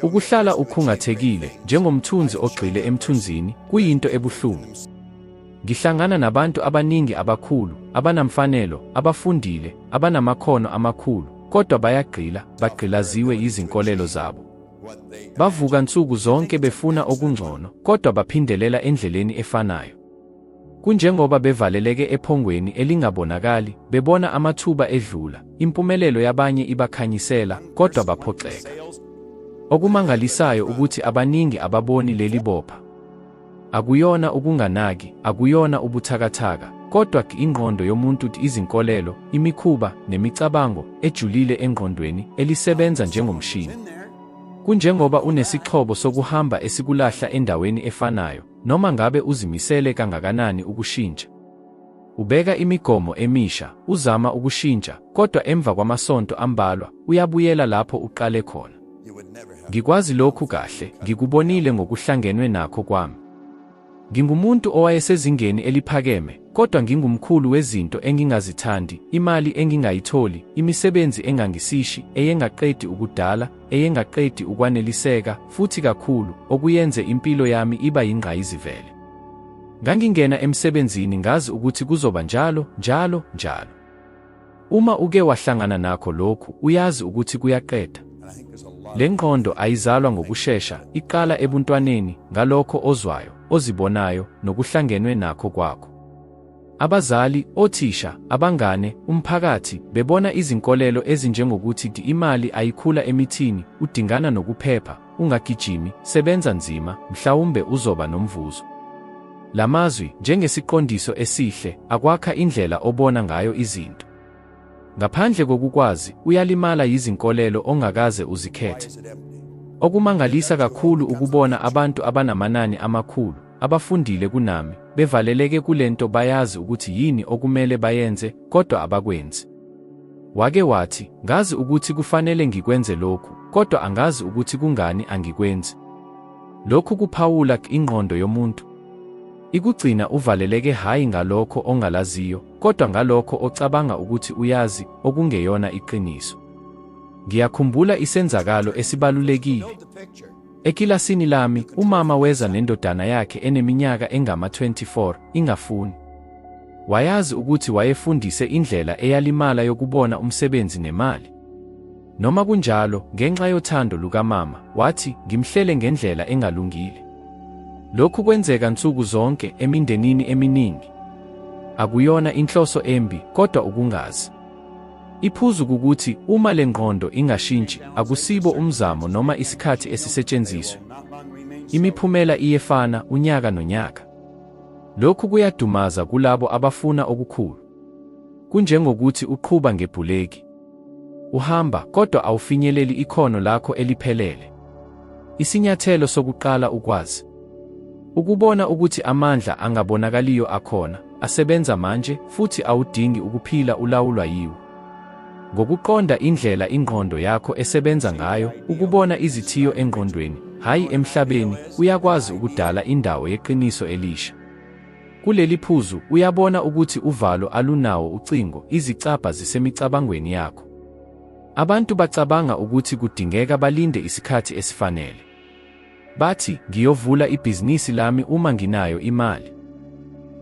Ukuhlala ukhungathekile njengomthunzi ogxile emthunzini kuyinto ebuhlungu. Ngihlangana nabantu abaningi abakhulu, abanamfanelo, abafundile, abanamakhono amakhulu, kodwa bayagqila, bagqilaziwe yizinkolelo zabo. Bavuka nsuku zonke befuna okungcono, kodwa baphindelela endleleni efanayo. Kunjengoba bevaleleke ephongweni elingabonakali, bebona amathuba edlula, impumelelo yabanye ibakhanyisela, kodwa baphoxeka. Okumangalisayo ukuthi abaningi ababoni leli bopha. Akuyona ukunganaki, akuyona ubuthakathaka, kodwa ingqondo yomuntu izinkolelo, imikhuba, nemicabango ejulile engqondweni elisebenza njengomshini. Kunjengoba unesixhobo sokuhamba esikulahla endaweni efanayo, Noma ngabe uzimisele kangakanani ukushintsha, ubeka imigomo emisha, uzama ukushintsha, kodwa emva kwamasonto ambalwa uyabuyela lapho uqale khona. Ngikwazi lokhu kahle, ngikubonile ngokuhlangenwe nakho kwami. Ngingumuntu owayesezingeni eliphakeme, kodwa ngingumkhulu wezinto engingazithandi, imali engingayitholi, imisebenzi engangisishi, eyengaqedi ukudala, eyengaqedi ukwaneliseka futhi kakhulu, okuyenze impilo yami iba yingqayizivele. Ngangingena emsebenzini ngazi ukuthi kuzoba njalo, njalo, njalo. Uma uke wahlangana nakho lokhu, uyazi ukuthi kuyaqeda. Le ngqondo ayizalwa ngokushesha, iqala ebuntwaneni, ngalokho ozwayo, ozibonayo, nokuhlangenwe nakho kwakho. Abazali, othisha, abangane, umphakathi, bebona izinkolelo ezinjengokuthi di imali ayikhula emithini, udingana nokuphepha, ungagijimi, sebenza nzima, mhlawumbe uzoba nomvuzo. La mazwi, njengesiqondiso esihle, akwakha indlela obona ngayo izinto. Ngaphandle kokukwazi, uyalimala yizinkolelo ongakaze uzikhethe. Okumangalisa kakhulu ukubona abantu abanamanani amakhulu, abafundile kunami, bevaleleke kule nto bayazi ukuthi yini okumele bayenze, kodwa abakwenzi. Wake wathi, Ngazi ukuthi kufanele ngikwenze lokhu, kodwa angazi ukuthi kungani angikwenzi. Lokhu kuphawula ingqondo yomuntu. Ikugcina uvaleleke hhayi ngalokho ongalaziyo, kodwa ngalokho ocabanga ukuthi uyazi, okungeyona iqiniso. Ngiyakhumbula isenzakalo esibalulekile. Ekilasini lami, umama weza nendodana yakhe eneminyaka engama-24, ingafuni. Wayazi ukuthi wayefundise indlela eyalimala yokubona umsebenzi nemali. Noma kunjalo, ngenxa yothando lukamama, wathi, Ngimhlele ngendlela engalungile. Lokhu kwenzeka nsuku zonke emindenini eminingi. Akuyona inhloso embi, kodwa ukungazi. Iphuzu kukuthi uma le ngqondo ingashintshi, akusibo umzamo noma isikhathi esisetshenziswe. Imiphumela iyefana unyaka nonyaka. Lokhu kuyadumaza kulabo abafuna okukhulu. Kunjengokuthi uqhuba ngebhuleki. Uhamba kodwa awufinyeleli ikhono lakho eliphelele. Isinyathelo sokuqala ukwazi ukubona ukuthi amandla angabonakaliyo akhona, asebenza manje futhi awudingi ukuphila ulawulwa yiwo. Ngokuqonda indlela ingqondo yakho esebenza ngayo, ukubona izithiyo engqondweni, hhayi emhlabeni, uyakwazi ukudala indawo yeqiniso elisha. Kuleli phuzu uyabona ukuthi uvalo alunawo ucingo, izicabha zisemicabangweni yakho. Abantu bacabanga ukuthi kudingeka balinde isikhathi esifanele. Bathi, ngiyovula ibhizinisi lami uma nginayo imali.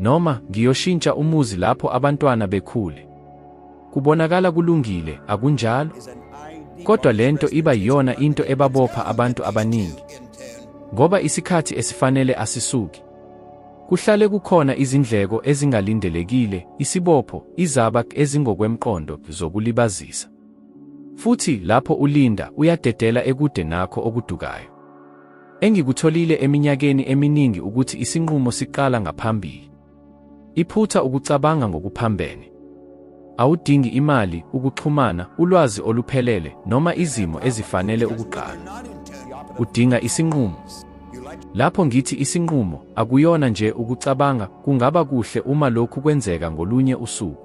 Noma, ngiyoshintsha umuzi lapho abantwana bekhule. Kubonakala kulungile, akunjalo? Kodwa le nto iba yiyona into ebabopha abantu abaningi. Ngoba isikhathi esifanele asisuki. Kuhlale kukhona izindleko ezingalindelekile, isibopho, izabak ezingokwemqondo zokulibazisa. Futhi lapho ulinda, uyadedela ekude nakho okudukayo. Engikutholile eminyakeni eminingi ukuthi isinqumo siqala ngaphambili. Iphutha ukucabanga ngokuphambene. Awudingi imali, ukuxhumana, ulwazi oluphelele, noma izimo ezifanele ukuqala. Udinga isinqumo. Lapho ngithi isinqumo, akuyona nje ukucabanga, kungaba kuhle uma lokhu kwenzeka ngolunye usuku.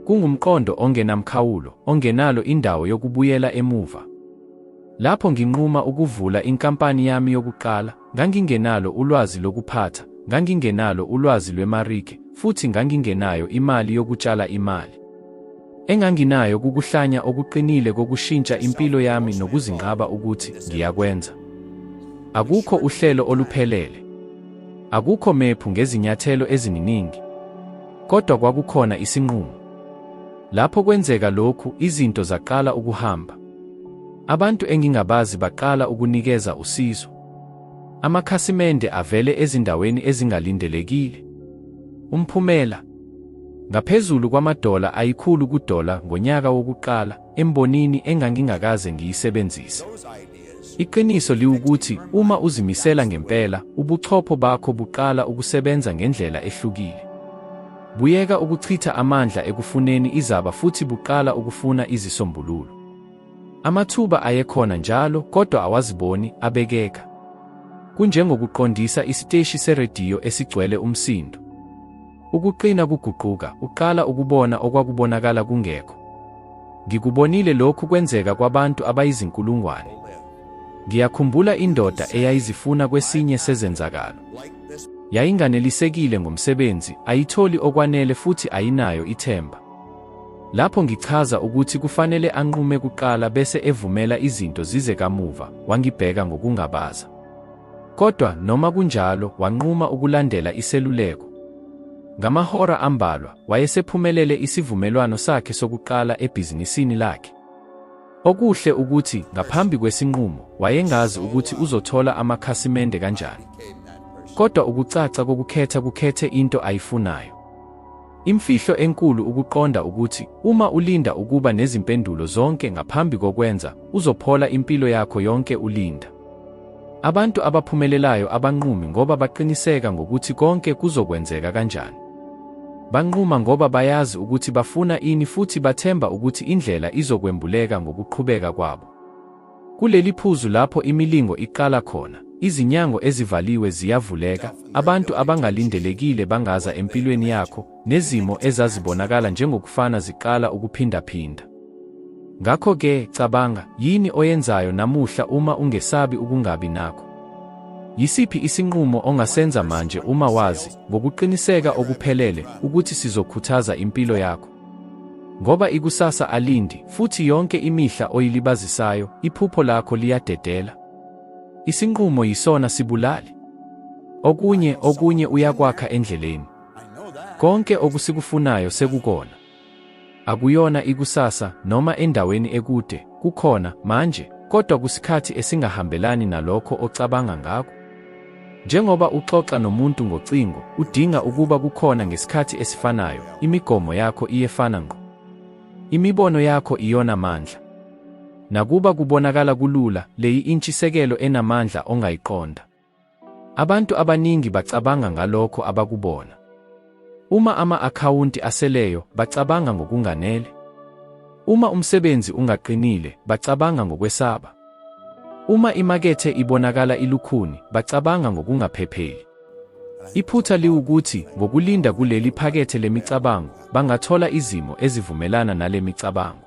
Kungumqondo ongenamkhawulo, ongenalo indawo yokubuyela emuva. Lapho nginquma ukuvula inkampani yami yokuqala, Ngangingenalo ulwazi lokuphatha, ngangingenalo ulwazi lwemarike, futhi ngangingenayo imali yokutshala imali. Enganginayo kukuhlanya okuqinile kokushintsha impilo yami nokuzinqaba ukuthi ngiyakwenza. Akukho uhlelo oluphelele. Akukho mephu ngezinyathelo eziningi. Kodwa kwakukhona isinqumo. Lapho kwenzeka lokhu, izinto zaqala ukuhamba. Abantu engingabazi baqala ukunikeza usizo. Amakhasimende avele ezindaweni ezingalindelekile. Umphumela ngaphezulu kwamadola ayikhulu kudola ngonyaka wokuqala embonini engangingakaze ngiyisebenzise. Iqiniso liwukuthi uma uzimisela ngempela, ubuchopho bakho buqala ukusebenza ngendlela ehlukile. Buyeka ukuchitha amandla ekufuneni izaba futhi buqala ukufuna izisombululo. Amathuba ayekhona njalo kodwa awaziboni abekeka. Kunjengokuqondisa isiteshi serediyo esigcwele umsindo. Ukuqina kuguquka, uqala ukubona okwakubonakala kungekho. Ngikubonile lokhu kwenzeka kwabantu abayizinkulungwane. Ngiyakhumbula indoda eyayizifuna kwesinye sezenzakalo. Yayinganelisekile ngomsebenzi, ayitholi okwanele futhi ayinayo ithemba. Lapho ngichaza ukuthi kufanele anqume kuqala bese evumela izinto zize kamuva, wangibheka ngokungabaza. Kodwa noma kunjalo, wanquma ukulandela iseluleko. Ngamahora ambalwa, wayesephumelele isivumelwano sakhe sokuqala ebhizinisini lakhe. Okuhle ukuthi ngaphambi kwesinqumo wayengazi ukuthi uzothola amakhasimende kanjani. Kodwa ukucaca kokukhetha kukhethe into ayifunayo. Imfihlo enkulu ukuqonda ukuthi uma ulinda ukuba nezimpendulo zonke ngaphambi kokwenza, uzophola impilo yakho yonke ulinda. Abantu abaphumelelayo abanqumi ngoba baqiniseka ngokuthi konke kuzokwenzeka kanjani. Banquma ngoba bayazi ukuthi bafuna ini futhi bathemba ukuthi indlela izokwembuleka ngokuqhubeka kwabo. Kuleli phuzu lapho imilingo iqala khona, izinyango ezivaliwe ziyavuleka, abantu abangalindelekile bangaza empilweni yakho, nezimo ezazibonakala njengokufana ziqala ukuphindaphinda. Ngakho-ke, cabanga, yini oyenzayo namuhla uma ungesabi ukungabi nakho? Yisiphi isinqumo ongasenza manje uma wazi ngokuqiniseka okuphelele ukuthi sizokhuthaza impilo yakho? Ngoba ikusasa alindi, futhi yonke imihla oyilibazisayo, iphupho lakho liyadedela. Isinqumo yisona sibulali. Okunye, okunye uyakwakha endleleni. Konke okusikufunayo sekukona. Akuyona ikusasa, noma endaweni ekude, kukhona, manje, kodwa kusikhathi esingahambelani nalokho ocabanga ngakho. Njengoba uxoxa nomuntu ngocingo, udinga ukuba kukhona ngesikhathi esifanayo, imigomo yakho iyefana ngqo. Imibono yakho iyona mandla. Nakuba kubonakala kulula, le yi-intshisekelo enamandla ongayiqonda. Abantu abaningi bacabanga ngalokho abakubona. Uma ama-akhawunti aseleyo, bacabanga ngokunganele. Uma umsebenzi ungaqinile, bacabanga ngokwesaba. Uma imakethe ibonakala ilukhuni, bacabanga ngokungaphepheli. Iphutha liwukuthi ngokulinda kuleli phakethe lemicabango, bangathola izimo ezivumelana nale micabango.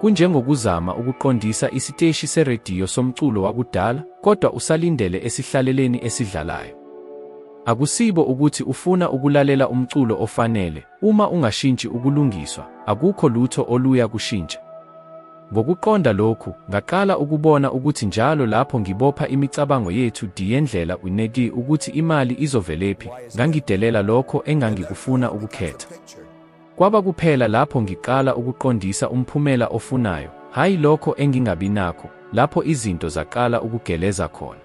Kunjengokuzama ukuqondisa isiteshi serediyo somculo wakudala, kodwa usalindele esihlaleleni esidlalayo. Akusibo ukuthi ufuna ukulalela umculo ofanele, uma ungashintshi ukulungiswa, akukho lutho oluya kushintsha. Ngokuqonda lokhu, ngaqala ukubona ukuthi njalo lapho ngibopha imicabango yethu diyendlela uneki ukuthi imali izovelephi, ngangidelela lokho engangikufuna ukukhetha. Kwaba kuphela lapho ngiqala ukuqondisa umphumela ofunayo, hhayi lokho engingabi nakho, lapho izinto zaqala ukugeleza khona.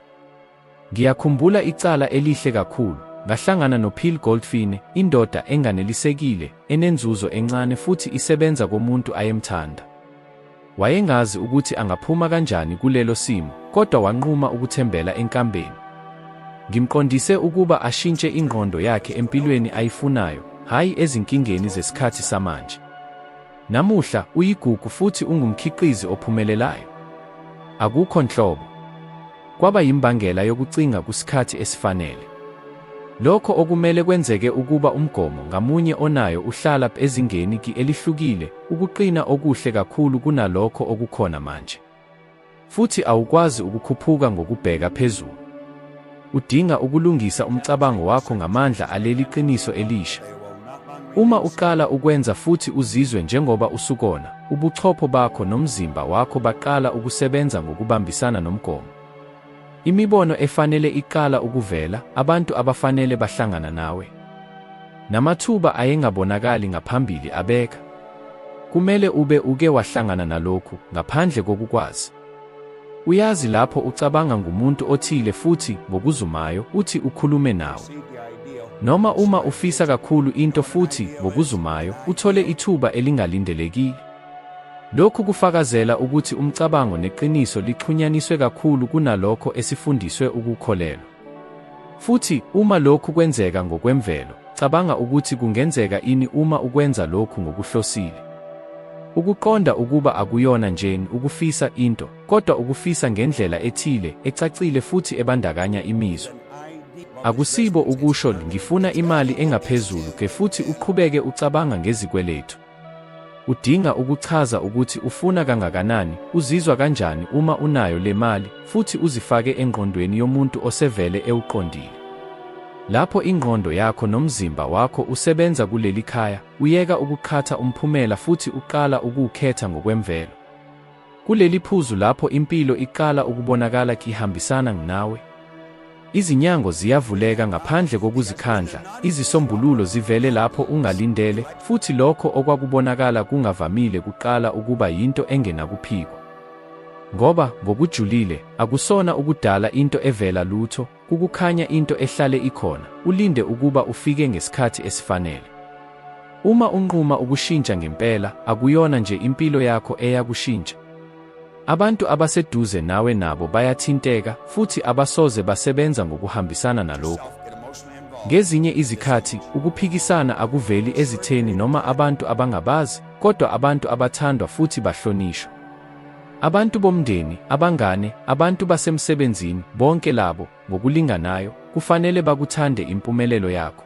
Ngiyakhumbula icala elihle kakhulu, ngahlangana noPhil Goldfine, indoda enganelisekile, enenzuzo encane futhi isebenza komuntu ayemthanda. Wayengazi ukuthi angaphuma kanjani kulelo simo, kodwa wanquma ukuthembela enkambeni. Ngimqondise ukuba ashintshe ingqondo yakhe empilweni ayifunayo, hhayi ezinkingeni zesikhathi samanje. Namuhla uyigugu futhi ungumkhiqizi ophumelelayo. Akukho nhlobo. kwaba yimbangela yokucinga kusikhathi esifanele. Lokho okumele kwenzeke ukuba umgomo ngamunye onayo uhlala ezingeni ki elihlukile, ukuqina okuhle kakhulu kunalokho okukhona manje. Futhi awukwazi ukukhuphuka ngokubheka phezulu. Udinga ukulungisa umcabango wakho ngamandla aleli qiniso elisha. Uma uqala ukwenza futhi uzizwe njengoba usukona, ubuchopho bakho nomzimba wakho baqala ukusebenza ngokubambisana nomgomo. Imibono efanele iqala ukuvela, abantu abafanele bahlangana nawe. Namathuba ayengabonakali ngaphambili abeka. Kumele ube uke wahlangana nalokhu ngaphandle kokukwazi. Uyazi lapho ucabanga ngumuntu othile futhi ngokuzumayo uthi ukhulume nawo. Noma uma ufisa kakhulu into futhi ngokuzumayo uthole ithuba elingalindelekile. Lokhu kufakazela ukuthi umcabango neqiniso lixhunyaniswe kakhulu kunalokho esifundiswe ukukholelwa. Futhi uma lokhu kwenzeka ngokwemvelo, cabanga ukuthi kungenzeka ini uma ukwenza lokhu ngokuhlosile. Ukuqonda ukuba akuyona nje ukufisa into, kodwa ukufisa ngendlela ethile, ecacile futhi ebandakanya imizwa. Akusibo ukusho ngifuna imali engaphezulu ke futhi uqhubeke ucabanga ngezikweletu. Udinga ukuchaza ukuthi ufuna kangakanani, uzizwa kanjani uma unayo le mali, futhi uzifake engqondweni yomuntu osevele ewuqondile. Lapho ingqondo yakho nomzimba wakho usebenza kuleli khaya, uyeka ukuqhatha umphumela futhi uqala ukuwukhetha ngokwemvelo. Kuleli phuzu lapho impilo iqala ukubonakala kihambisana nginawe, izinyango ziyavuleka ngaphandle kokuzikhandla, izisombululo zivele lapho ungalindele, futhi lokho okwakubonakala kungavamile kuqala ukuba yinto engenakuphikwa. Ngoba, ngokujulile, akusona ukudala into evela lutho, Kukukhanya into ehlale ikhona, ulinde ukuba ufike ngesikhathi esifanele. Uma unquma ukushintsha ngempela, akuyona nje impilo yakho eyakushintsha. Abantu abaseduze nawe nabo bayathinteka futhi abasoze basebenza ngokuhambisana nalokhu. Ngezinye izikhathi ukuphikisana akuveli ezitheni noma abantu abangabazi, kodwa abantu abathandwa futhi bahlonishwa. Abantu bomndeni, abangane, abantu basemsebenzini, bonke labo, ngokulinganayo, kufanele bakuthande impumelelo yakho.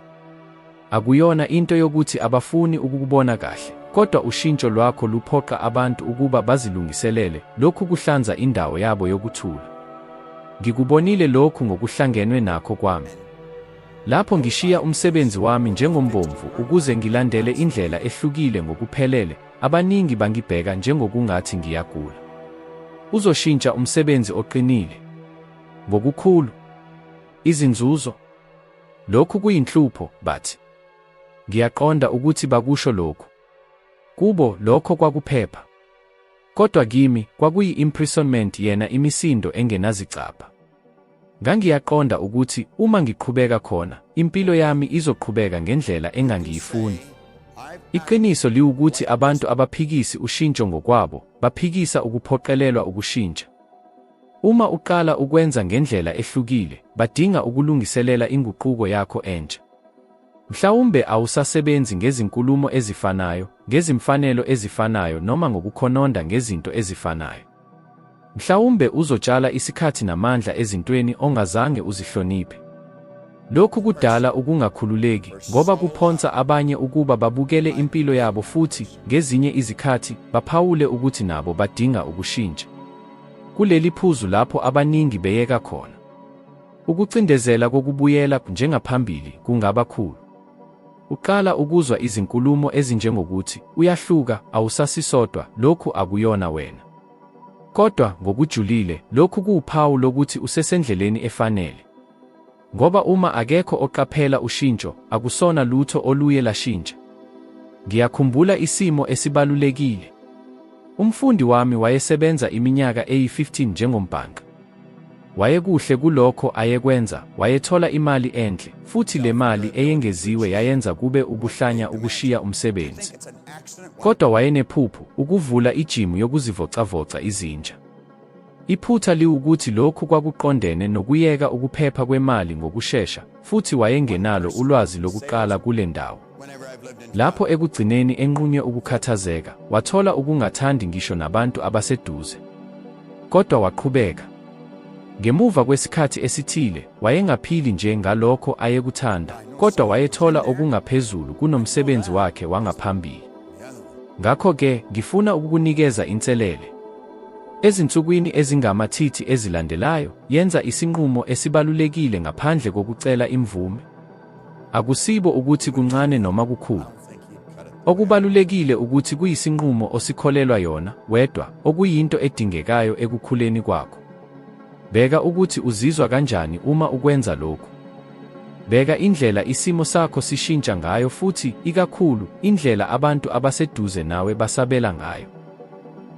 Akuyona into yokuthi abafuni ukukubona kahle, kodwa ushintsho lwakho luphoqa abantu ukuba bazilungiselele, lokhu kuhlanza indawo yabo yokuthula. Ngikubonile lokhu ngokuhlangenwe nakho kwami. Lapho ngishiya umsebenzi wami njengombomvu ukuze ngilandele indlela ehlukile ngokuphelele, Abaningi bangibheka njengokungathi ngiyagula. Uzoshintsha umsebenzi oqinile. Ngokukhulu. Izinzuzo. Lokhu kuyinhlupho, bathi. Ngiyaqonda ukuthi bakusho lokhu. Kubo lokho kwakuphepha. Kodwa kimi kwakuyi-imprisonment yena imisindo engenazicabha. Ngangiyaqonda ukuthi uma ngiqhubeka khona, impilo yami izoqhubeka ngendlela engangiyifuni. Iqiniso liwukuthi abantu abaphikisi ushintsho ngokwabo, baphikisa ukuphoqelelwa ukushintsha. Uma uqala ukwenza ngendlela ehlukile, badinga ukulungiselela inguquko yakho entsha. Mhlawumbe awusasebenzi ngezinkulumo ezifanayo, ngezimfanelo ezifanayo noma ngokukhononda ngezinto ezifanayo. Mhlawumbe uzotshala isikhathi namandla ezintweni ongazange uzihloniphe. Lokhu kudala ukungakhululeki ngoba kuphonsa abanye ukuba babukele impilo yabo futhi ngezinye izikhathi baphawule ukuthi nabo badinga ukushintsha. Kuleli phuzu lapho abaningi beyeka khona. Ukucindezela kokubuyela njengaphambili kungaba khulu. Uqala ukuzwa izinkulumo ezinjengokuthi, Uyahluka, awusasisodwa, lokhu akuyona wena. Kodwa, ngokujulile, lokhu kuwuphawu lokuthi usesendleleni efanele. Ngoba uma akekho oqaphela ushintsho, akusona lutho oluye lashintsha. Ngiyakhumbula isimo esibalulekile. Umfundi wami wayesebenza iminyaka eyi-15 njengombhanqa. Wayekuhle kulokho ayekwenza, wayethola imali enhle, futhi le mali eyengeziwe yayenza kube ubuhlanya ukushiya umsebenzi. Kodwa wayenephuphu, ukuvula ijimu yokuzivocavoca izinja. Iphutha liwukuthi lokhu kwakuqondene nokuyeka ukuphepha kwemali ngokushesha, futhi wayengenalo ulwazi lokuqala kule ndawo. Lapho ekugcineni enqunywe ukukhathazeka, wathola ukungathandi ngisho nabantu abaseduze. Kodwa waqhubeka. Ngemuva kwesikhathi esithile, wayengaphili nje ngalokho ayekuthanda, kodwa wayethola okungaphezulu kunomsebenzi wakhe wangaphambili. Ngakho-ke, ngifuna ukukunikeza inselele. Ezinsukwini ezingamathithi ezilandelayo, yenza isinqumo esibalulekile ngaphandle kokucela imvume. Akusibo ukuthi kuncane noma kukhulu. Okubalulekile ukuthi kuyisinqumo osikholelwa yona wedwa, okuyinto edingekayo ekukhuleni kwakho. Bheka ukuthi uzizwa kanjani uma ukwenza lokhu. Bheka indlela isimo sakho sishintsha ngayo futhi, ikakhulu, indlela abantu abaseduze nawe basabela ngayo.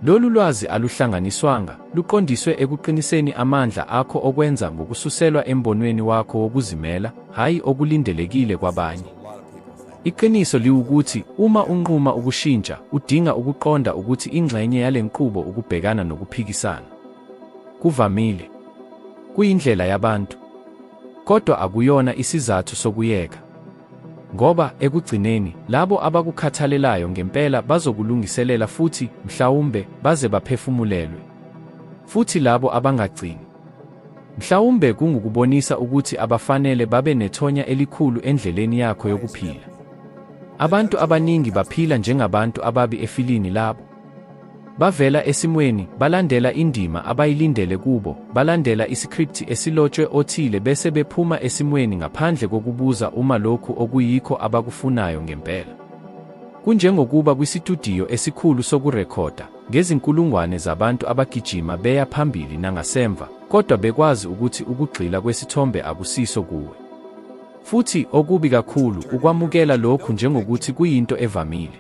Lolu lwazi aluhlanganiswanga, luqondiswe ekuqiniseni amandla akho okwenza ngokususelwa embonweni wakho wokuzimela, hhayi okulindelekile kwabanye. Iqiniso liwukuthi uma unquma ukushintsha, udinga ukuqonda ukuthi ingxenye yale nqubo ukubhekana nokuphikisana. Kuvamile. Kuyindlela yabantu. Kodwa akuyona isizathu sokuyeka. Ngoba, ekugcineni, labo abakukhathalelayo ngempela bazokulungiselela futhi, mhlawumbe, baze baphefumulelwe. Futhi labo abangagcini. Mhlawumbe kungukubonisa ukuthi abafanele babe nethonya elikhulu endleleni yakho yokuphila. Abantu abaningi baphila njengabantu ababi efilini labo. Bavela esimweni, balandela indima abayilindele kubo, balandela isikripthi esilotshwe othile bese bephuma esimweni ngaphandle kokubuza uma lokhu okuyikho abakufunayo ngempela. Kunjengokuba kwisitudiyo esikhulu sokurekhoda, ngezinkulungwane zabantu abagijima beya phambili nangasemva, kodwa bekwazi ukuthi ukugxila kwesithombe akusiso kuwe. Futhi, okubi kakhulu, ukwamukela lokhu njengokuthi kuyinto evamile.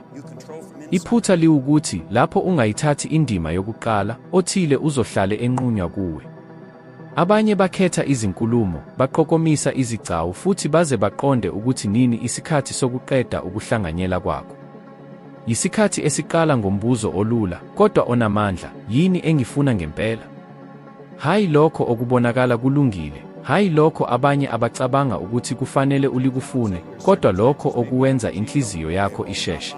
Iphutha liwukuthi lapho ungayithathi indima yokuqala, othile uzohlale enqunywa kuwe. Abanye bakhetha izinkulumo, baqokomisa izigcawu futhi baze baqonde ukuthi nini isikhathi sokuqeda ukuhlanganyela kwakho. Yisikhathi esiqala ngombuzo olula, kodwa onamandla, yini engifuna ngempela? Hhayi lokho okubonakala kulungile, hhayi lokho abanye abacabanga ukuthi kufanele ulikufune, kodwa lokho okuwenza inhliziyo yakho isheshe.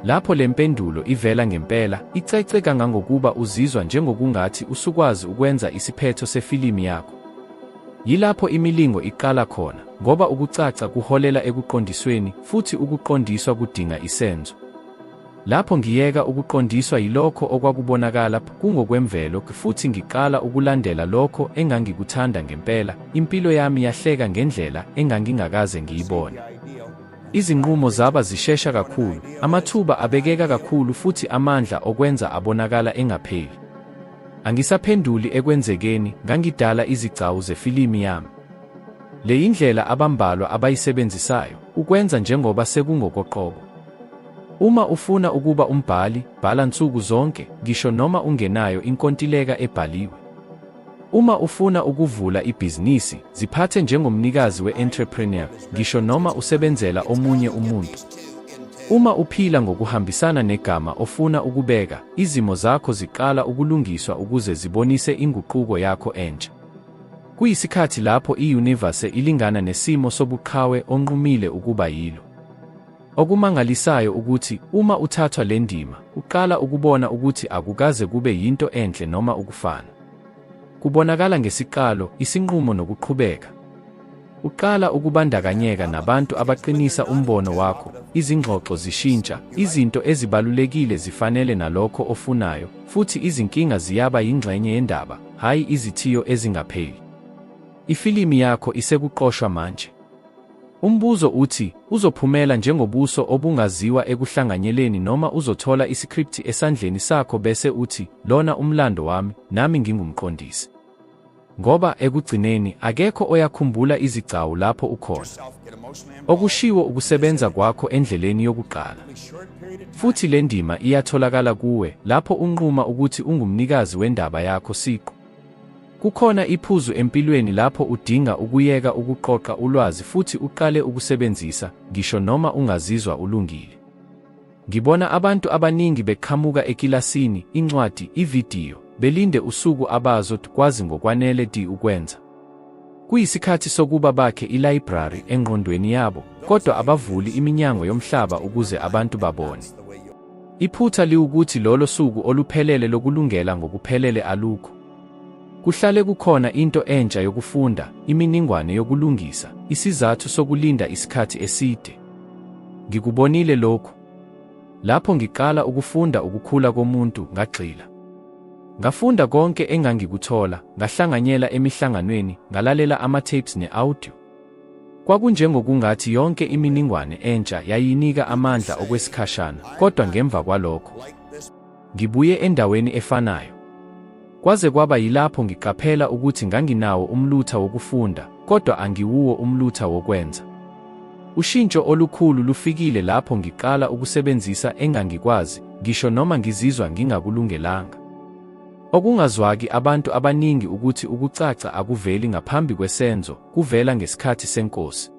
Lapho le mpendulo ivela ngempela, icece kangangokuba uzizwa njengokungathi usukwazi ukwenza isiphetho sefilimu yakho. Yilapho imilingo iqala khona, ngoba ukucaca kuholela ekuqondisweni, futhi ukuqondiswa kudinga isenzo. Lapho ngiyeka ukuqondiswa yilokho okwakubonakala kungokwemvelo futhi ngiqala ukulandela lokho engangikuthanda ngempela, impilo yami yahleka ngendlela engangingakaze ngiyibone. Izinqumo zaba zishesha kakhulu, amathuba abekeka kakhulu futhi amandla okwenza abonakala engapheli. Angisaphenduli ekwenzekeni, ngangidala izigcawu zefilimi yami. Le yindlela abambalwa abayisebenzisayo, ukwenza njengoba sekungokoqobo. Uma ufuna ukuba umbhali, bhala nsuku zonke, ngisho noma ungenayo inkontileka ebhaliwe. Uma ufuna ukuvula ibhizinisi, ziphathe njengomnikazi we-entrepreneur, ngisho noma usebenzela omunye umuntu. Uma uphila ngokuhambisana negama ofuna ukubeka, izimo zakho ziqala ukulungiswa ukuze zibonise inguquko yakho entsha. Kuyisikhathi lapho i-universe ilingana nesimo sobuqhawe onqumile ukuba yilo. Okumangalisayo ukuthi uma uthathwa le ndima, uqala ukubona ukuthi akukaze kube yinto enhle noma ukufana. Kubonakala ngesiqalo, isinqumo nokuqhubeka. Uqala ukubandakanyeka nabantu abaqinisa umbono wakho, izingxoxo zishintsha, izinto ezibalulekile zifanele nalokho ofunayo, futhi izinkinga ziyaba yingxenye yendaba, hhayi izithiyo ezingapheli. Ifilimi yakho isekuqoshwa manje. Umbuzo uthi, uzophumela njengobuso obungaziwa ekuhlanganyeleni noma uzothola isikripthi esandleni sakho bese uthi, lona umlando wami, nami ngingumqondisi? Ngoba, ekugcineni, akekho oyakhumbula izigcawu lapho ukhona. Okushiwo ukusebenza kwakho endleleni yokuqala. Futhi le ndima iyatholakala kuwe, lapho unquma ukuthi ungumnikazi wendaba yakho siqu. Kukhona iphuzu empilweni lapho udinga ukuyeka ukuqoqa ulwazi futhi uqale ukusebenzisa, ngisho noma ungazizwa ulungile. Ngibona abantu abaningi beqhamuka ekilasini, incwadi, ividiyo, belinde usuku abazo kwazi ngokwanele di ukwenza. Kuyisikhathi sokuba bakhe ilayibrari engqondweni yabo, kodwa abavuli iminyango yomhlaba ukuze abantu babone. Iphutha liwukuthi lolo suku oluphelele lokulungela ngokuphelele alukho. Kuhlale kukhona into entsha yokufunda, iminingwane yokulungisa, isizathu sokulinda isikhathi eside. Ngikubonile lokhu. Lapho ngiqala ukufunda ukukhula komuntu, ngagxila. Ngafunda konke engangikuthola, ngahlanganyela emihlanganweni, ngalalela ama-tapes ne-audio. Kwakunjengokungathi yonke iminingwane entsha yayinika amandla okwesikhashana, kodwa ngemva kwalokho ngibuye endaweni efanayo. Kwaze kwaba yilapho ngiqaphela ukuthi nganginawo umlutha wokufunda, kodwa angiwuwo umlutha wokwenza. Ushintsho olukhulu lufikile lapho ngiqala ukusebenzisa engangikwazi, ngisho noma ngizizwa ngingakulungelanga. Okungazwaki abantu abaningi ukuthi ukucaca akuveli ngaphambi kwesenzo, kuvela ngesikhathi senkosi.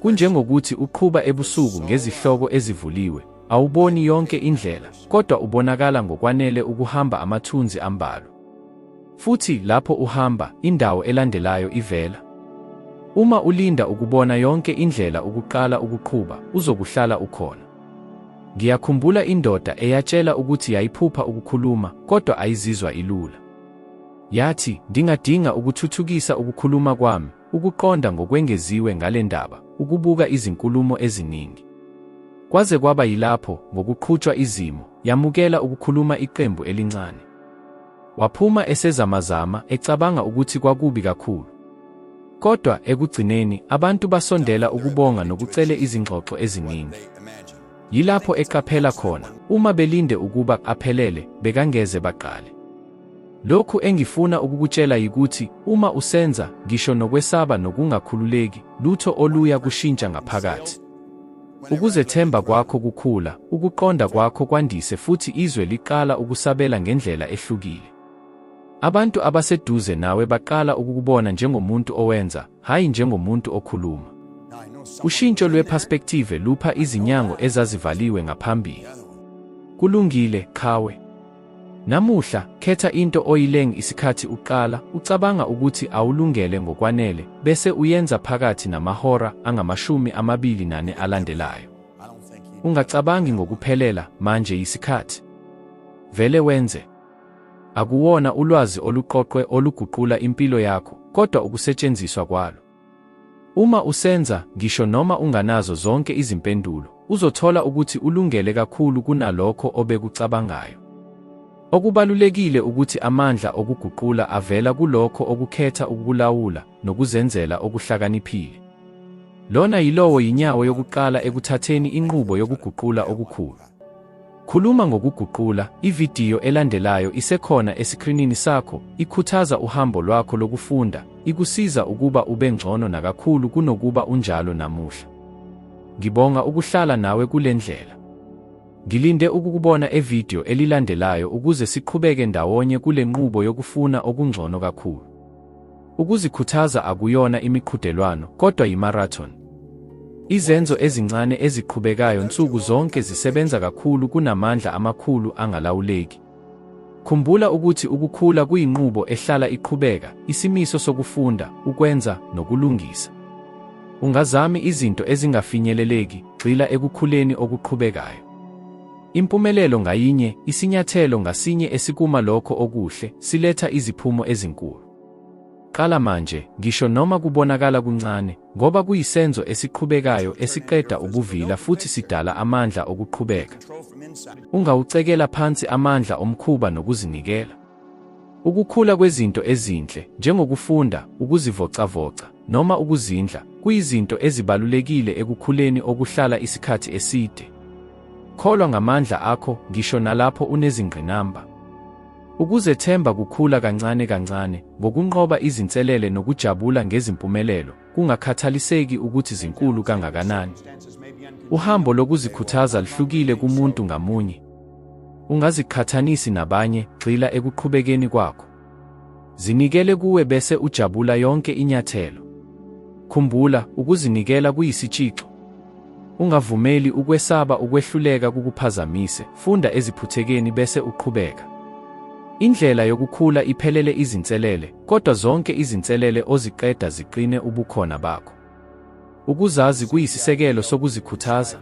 Kunjengokuthi uqhuba ebusuku ngezihloko ezivuliwe, awuboni yonke indlela, kodwa ubonakala ngokwanele ukuhamba amathunzi ambalwa. Futhi lapho uhamba, indawo elandelayo ivela. Uma ulinda ukubona yonke indlela ukuqala ukuqhuba, uzokuhlala ukhona. Ngiyakhumbula indoda eyatshela ukuthi yayiphupha ukukhuluma kodwa ayizizwa ilula. Yathi, Ndingadinga ukuthuthukisa ukukhuluma kwami, ukuqonda ngokwengeziwe ngale ndaba, ukubuka izinkulumo eziningi. Kwaze kwaba yilapho, ngokuqhutshwa izimo, yamukela ukukhuluma iqembu elincane. Waphuma esezamazama, ecabanga ukuthi kwakubi kakhulu. Kodwa ekugcineni, abantu basondela ukubonga nokucele izingxoxo eziningi. Yilapho eqaphela khona, uma belinde ukuba aphelele, bekangeze baqale. Lokhu engifuna ukukutshela yikuthi uma usenza, ngisho nokwesaba nokungakhululeki, lutho oluya kushintsha ngaphakathi. Ukuzethemba kwakho kukhula, ukuqonda kwakho kwandise futhi izwe liqala ukusabela ngendlela ehlukile. Abantu abaseduze nawe baqala ukukubona njengomuntu owenza, hhayi njengomuntu okhuluma. Ushintsho lweperspektive lupha izinyango ezazivaliwe ngaphambili. Kulungile, qhawe. Namuhla, khetha into oyileng isikhathi uqala ucabanga ukuthi awulungele ngokwanele bese uyenza phakathi namahora angamashumi amabili nane alandelayo. Ungacabangi ngokuphelela manje yisikhathi. Vele wenze. Akuwona ulwazi oluqoqwe oluguqula impilo yakho, kodwa ukusetshenziswa kwalo. Uma usenza, ngisho noma unganazo zonke izimpendulo, uzothola ukuthi ulungele kakhulu kunalokho obekucabangayo. Okubalulekile ukuthi amandla okuguqula avela kulokho okukhetha ukukulawula nokuzenzela okuhlakaniphile. Lona yilowo yinyawo yokuqala ekuthatheni inqubo yokuguqula okukhulu. Khuluma ngokuguqula, ividiyo elandelayo isekhona esikrinini sakho, ikhuthaza uhambo lwakho lokufunda, ikusiza ukuba ube ngcono nakakhulu kunokuba unjalo namuhla. Ngibonga ukuhlala nawe kule ndlela. Ngilinde ukukubona evidiyo elilandelayo ukuze siqhubeke ndawonye kule nqubo yokufuna okungcono kakhulu. Ukuzikhuthaza akuyona imiqhudelwano, kodwa yimarathon. Izenzo ezincane eziqhubekayo nsuku zonke zisebenza kakhulu kunamandla amakhulu angalawuleki. Khumbula ukuthi ukukhula kuyinqubo ehlala iqhubeka, isimiso sokufunda, ukwenza, nokulungisa. Ungazami izinto ezingafinyeleleki, gxila ekukhuleni okuqhubekayo. Impumelelo ngayinye, isinyathelo ngasinye esikuma lokho okuhle, siletha iziphumo ezinkulu. Qala manje, ngisho noma kubonakala kuncane, ngoba kuyisenzo esiqhubekayo esiqeda ubuvila futhi sidala amandla okuqhubeka. Ungawucekela phansi amandla omkhuba nokuzinikela. Ukukhula kwezinto ezinhle, njengokufunda, ukuzivocavoca, noma ukuzindla, kuyizinto ezibalulekile ekukhuleni okuhlala isikhathi eside. Kholwa ngamandla akho ngisho nalapho unezingqinamba. Ukuzethemba kukhula kancane kancane ngokunqoba izinselele nokujabula ngezimpumelelo, kungakhathaliseki ukuthi zinkulu kangakanani. Uhambo lokuzikhuthaza luhlukile kumuntu ngamunye. Ungaziqhathanisi nabanye, gxila ekuqhubekeni kwakho. Zinikele kuwe bese ujabula yonke inyathelo. Khumbula, ukuzinikela kuyisitshixo. Ungavumeli ukwesaba ukwehluleka kukuphazamise, funda eziphuthekeni bese uqhubeka. Indlela yokukhula iphelele izinselele, kodwa zonke izinselele oziqeda ziqine ubukhona bakho. Ukuzazi kuyisisekelo sokuzikhuthaza.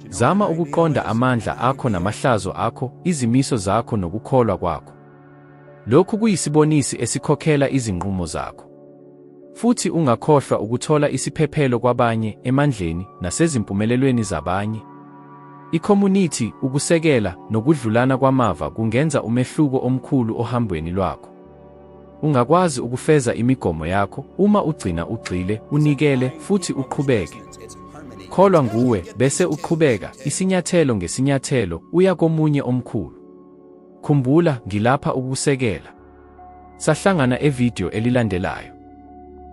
Zama ukuqonda amandla akho namahlazo akho, izimiso zakho nokukholwa kwakho. Lokhu kuyisibonisi esikhokhela izinqumo zakho. Futhi ungakhohlwa ukuthola isiphephelo kwabanye, emandleni, nasezimpumelelweni zabanye. Ikhomunithi, ukusekela, nokudlulana kwamava kungenza umehluko omkhulu ohambweni lwakho. Ungakwazi ukufeza imigomo yakho uma ugcina ugxile, unikele, futhi uqhubeke. Kholwa nguwe, bese uqhubeka, isinyathelo ngesinyathelo, uya komunye omkhulu. Khumbula, ngilapha ukukusekela. Sahlangana evideo elilandelayo.